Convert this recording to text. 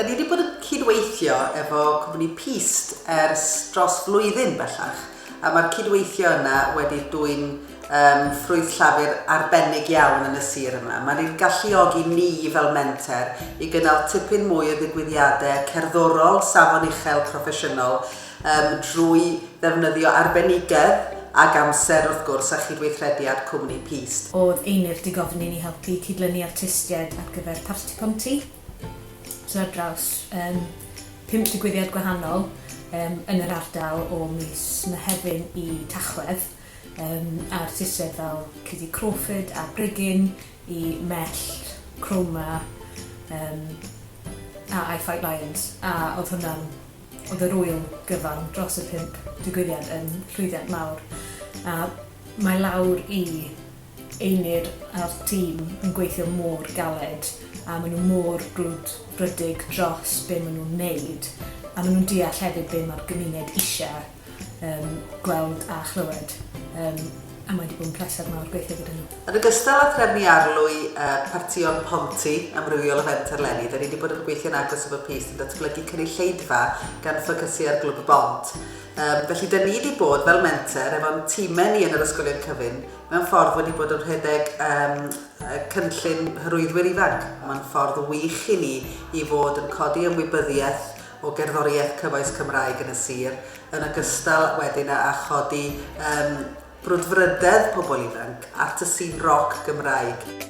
Da ni wedi bod yn cydweithio efo cwmni Pist ers dros flwyddyn bellach, a mae'r cydweithio yna wedi dwy'n um, ffrwyth llafur arbennig iawn yn y sir yma. Mae'n ein galluogi ni fel menter i gynnal tipyn mwy o ddigwyddiadau cerddorol, safon uchel, proffesiynol, Yym, drwy ddefnyddio arbenigedd ac amser, wrth gwrs, a chydweithrediad cwmni Peast. Oedd Einir 'di gofyn i ni helpu cydlynu artistiaid ar gyfer Parti Ponty. So ar draws yym pump digwyddiad gwahanol yym yn yr ardal o mis Mehefin i Tachwedd yym a artistiaid fel Cuddy Crawford a Brigyn i Mellt, Chroma yym a I Fight Lions a oedd hwnna'n Oedd yr ŵyl gyfan dros y pump digwyddiad yn llwyddiant mawr a mae lawr i Einir a'r tîm yn gweithio mor galed a maen nhw mor brwdfrydig dros be maen nhw'n wneud a maen nhw'n deall hefyd be mae'r gymuned eisiau. yym gweld a chlywed yym a mae 'di bod yn pleser mawr gweithio gyda nhw. Yn ogystal â threfnu arlwy y partïon Ponty amrywiol o Fenter eleni, 'da ni 'di bod yn gweithio'n agos efo PIST yn datblygu cynulleidfa gan ffocysu ar Glwb y Bont. Yym, felly 'da ni 'di bod, fel Menter, efo'n timau ni yn yr ysgolion cyfun, mewn ffordd wedi bod yn rhedeg yym y cynllun Hyrwyddwyr Ifanc. Mae'n ffordd wych i ni i fod yn codi ymwybyddiaeth o gerddoriaeth cyfoes Cymraeg yn y sir, yn ogystal wedyn â â chodi yym brwdfrydedd pobl ifanc at y sin roc Gymraeg.